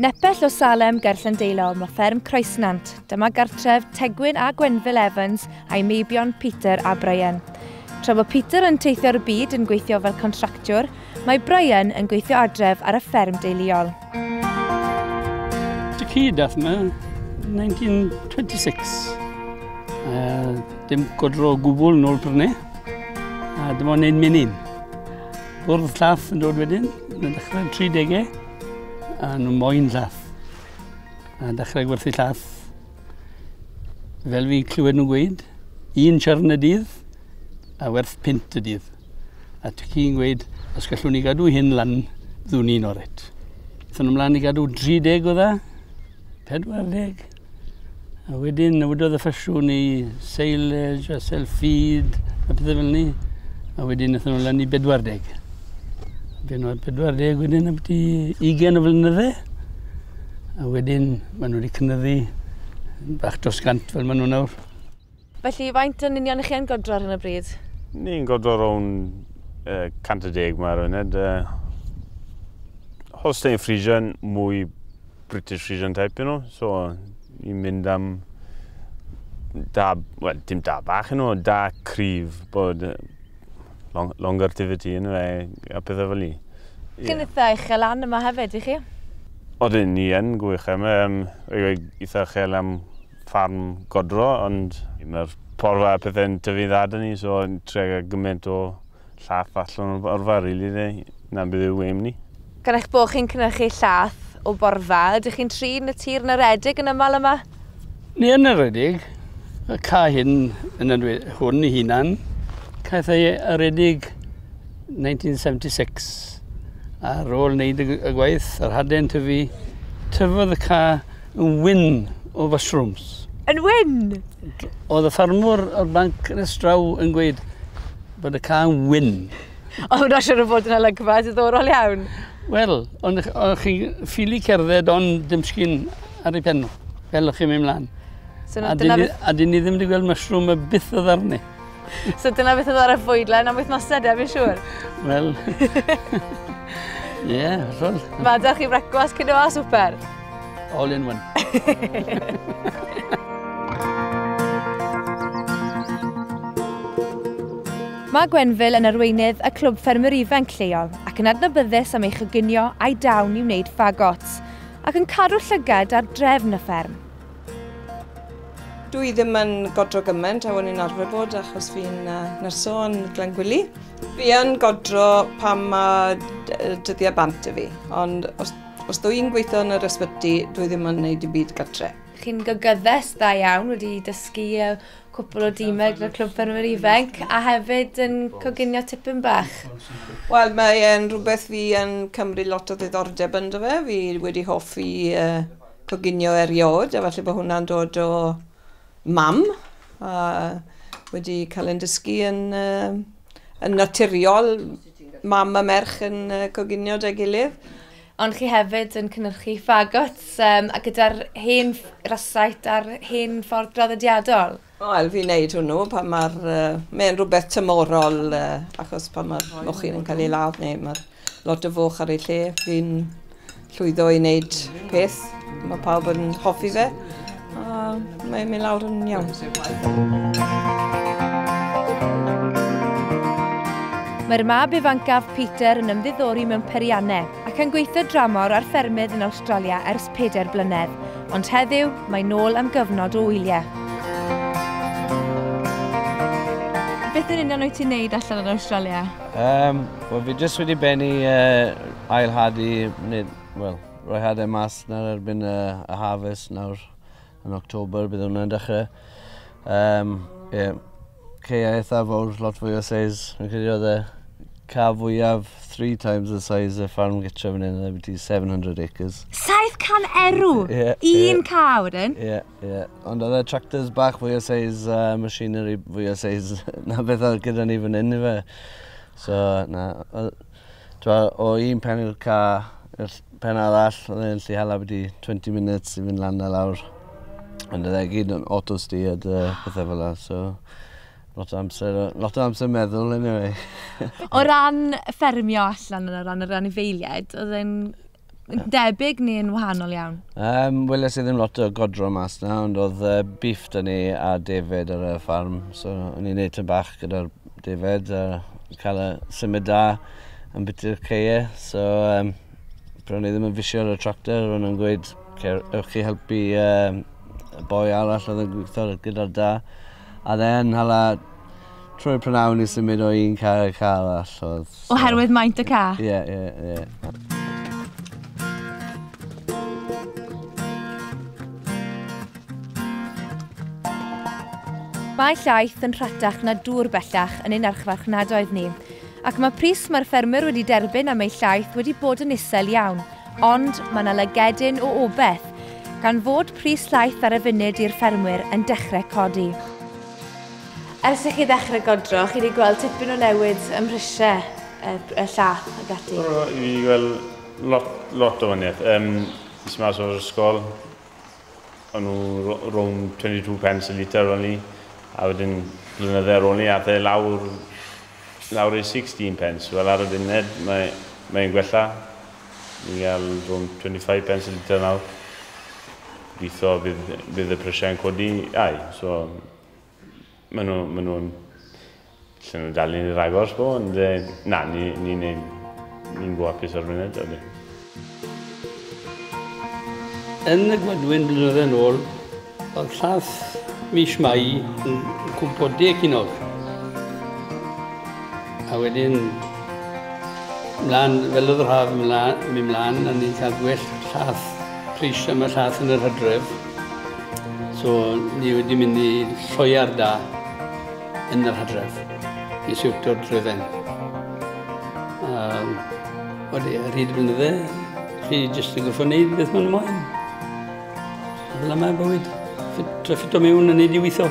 Nepell o Salem ger Llandeilo, mae fferm Croesnant. Dyma gartref Tegwyn a Gwenfil Evans a'i meibion Peter a Brian. Tra bod Peter yn teithio'r byd yn gweithio fel contractiwr, mae Brian yn gweithio adref ar y fferm deuluol. Dy cyd dath yma 1926. Uh, dim godro o gwbl nôl prynu. A dyma o'n ein menyn. Bwrdd llaff yn dod wedyn, yn dechrau 30au, a nhw moyn llaff. A dechrau gwerthu llaff. Fel fi clywed nhw'n gweud, un siarn y dydd, a werth pint y dydd. A ti ci'n gweud, os gallwn ni gadw hyn lan, ddwn i'n oret. Thyn nhw'n mlaen i gadw 30 o dda, 40. A wedyn newidodd y ffasiwn i silage a self-feed a pethau fel ni. A wedyn wnaethon nhw lan i 40. Wedyn oedd 40 wedyn am ti 20 o flynyddau. A wedyn maen nhw wedi cynyddu bach dros gant fel maen nhw nawr. Felly, faint yn union ych chi yn godro ar hyn o bryd? Ni'n godro rown uh, 110 mae'r funud. Uh, Holstein Friesian, mwy British Friesian type, you know. So, ni'n mynd am da, well, dim da bach yn ôl, da cryf bod long, longer tivity yn fe a pethau fel ni. Chi'n yeah. eitha uchel lan yma hefyd, i chi? Oedden ni yn gwych am um, eitha uchel am ffarm godro ond mae'r porfa a pethe'n tyfu'n dda da ni so yn trio gael gymaint o llath allan o'r porfa rili de, na beth yw aim ni. Gan eich bod chi'n cynhyrchu llath o borfa, ydych chi'n trin y tir yn aredig yn aml yma? Ni yn aredig, y ca hyn yn enw hwn ei hunan, caeth ei aredig 1976. Ar ôl wneud y gwaith, yr hade'n tyfu, tyfodd y ca Yn wyn o fushrooms. Yn wyn! Oedd y ffarmwr o'r banc yn estraw yn gweud bod y cael yn wyn. O, hwnna siwr o fod yn olygfa diddorol iawn. Wel, ond chi ffili cerdded ond dim sgyn ar ei penno, fel o'ch chi'n mynd mlaen. So, a, dyn ni, a dyn ni ddim wedi gweld mushroom y byth o ddarni. So dyna beth oedd ar y fwydlen am wythnosau de, fi'n siŵr. Wel, ie, yeah, hollol. Mae da chi brecwas, cyn o a swper? All in one. Mae Gwenfil yn arweinydd y Clwb Ffermwyr Ifanc lleol ac yn adnabyddus am ei chyginio a'i dawn i wneud fagot ac yn cadw llygad ar drefn y fferm. Dw i ddim yn godro gymaint a o'n i'n arfer bod achos fi'n uh, nyrsio yn Glangwili. Fi yn godro pan mae dyddiau bant i fi, ond os, os dw i'n gweithio yn yr ysbyty, dw i ddim yn gwneud i byd gytre. Chi'n gygyddes dda iawn, wedi dysgu uh, cwpl o dîmau gyda Clwb Ffermwyr Ifanc, a hefyd yn coginio tipyn bach. Wel, mae'n rhywbeth fi yn cymryd lot o ddiddordeb ynddo fe. Fi wedi hoffi uh, Coginio erioed, a falle bod hwnna'n dod o mam, a wedi cael yn dysgu yn, uh, yn naturiol, mam a merch yn uh, coginio da gilydd. Ond chi hefyd yn cynnyrchu ffagots um, a gyda'r hen rasait a'r hen ffordd draddodiadol. Wel fi'n neud hwnnw pan ma'r yy... Mae'n rhywbeth tymhorol yy achos pan ma'r mochyn yn cael ei ladd neu ma' lot o foch ar ei lle fi'n llwyddo i neud peth ma' pawb yn hoffi fe a mae'n mynd lawr yn iawn. Mae'r mab ifancaf, Peter, yn ymddiddori mewn periannau ac yn gweithio dramor ar ffermydd yn Awstralia ers pedair blynedd, ond heddiw mae nôl am gyfnod o wyliau. Beth yn union wyt ti'n neud allan yn Australia? Um, well, fi jyst wedi benni uh, ailhadu, nid, well, rhoi hadau mas nawr erbyn uh, y harvest nawr. Yn October bydd hwnna'n dechre. Yym ie. Caeau eitha fowr, lot fwy o size. Fi'n credu oedd e ca fwyaf three times the size y ffarm gytre fan hyn oedd e seven hundred acres. 700 erw! Ie, ie. Un ca wedyn? Ie, ie. Ond oedd e tractors bach fwy o size a machinery fwy o size na beth oedd gyda ni fan hyn ife. So na, oedd... T'mo' o un pen i'r ca' i'r ll- pen arall odd e'n gallu hala byti twenty minutes i fyn' lan a lawr. Ond odd e gyd yn auto steered a pethe fel 'a so lot o amser a lot o amser meddwl eniwe. O ran ffermio allan yn o ran yr anifeiliaid odd e'n debyg neu'n wahanol iawn? Um, Wel, ys ddim lot o godro mas na, ond oedd uh, beef da ni a defed ar y ffarm. So, o'n i'n neud tyn bach gyda'r defed a cael y symud da yn biti'r ceie. So, um, bron i ddim yn fisio ar y tractor, ro'n nhw'n gweud, ewch chi helpu um, y boi arall oedd yn gweithio gyda'r da. A dde'n hala Trwy'r prynawn i symud o un car i'r car arall oedd... So... Oherwydd maint y car? Ie, yeah, ie, yeah, ie. Yeah. Mae llaeth yn rhatach na dŵr bellach yn ein archfarchnadoedd ni, ac mae pris mae'r ffermwyr wedi derbyn am eu llaeth wedi bod yn isel iawn, ond mae yna lygedyn o obeth, gan fod pris llaeth ar y funud i'r ffermwyr yn dechrau codi. Ers i chi ddechrau godro, chi wedi gweld tipyn o newid ym mhrisiau y, y llath ac ati? O, fi wedi gweld lot, lot o waniaeth. Um, nes i mas o'r ysgol, o'n nhw rown 22 pence y litr o'n i, a wedyn blynydde ar ôl ni, a the lawr, lawr i 16 pence. Wel, ar y funud, mae, mae'n gwella. Ni'n cael rown 25 pence y litr nawr. Gobeithio bydd, bydd y prisiau'n codi, ai, so Maen nhw, maen nhw'n... Llen nhw'n dal ni'n rhagor, sbo, ond e, na, ni'n ni, ni, ni, ni gwapus ar funud, ydy. Yn y gwadwyn blynyddoedd yn ôl, oedd llath mis Mai yn cwmpo deg hinog. A wedyn, mlaen, fel oedd yr haf yn mynd mlaen, a ni'n cael gwell llath, pris am y llath yn yr hydref. So, ni wedi mynd i lloiar da yn yr hadref i siwto'r dryden. Um, wedi rhyd yn dde, chi jyst yn gorfod wneud beth mae'n moyn. Fel yma bywyd, treffyd o mewn yn neud i weithio.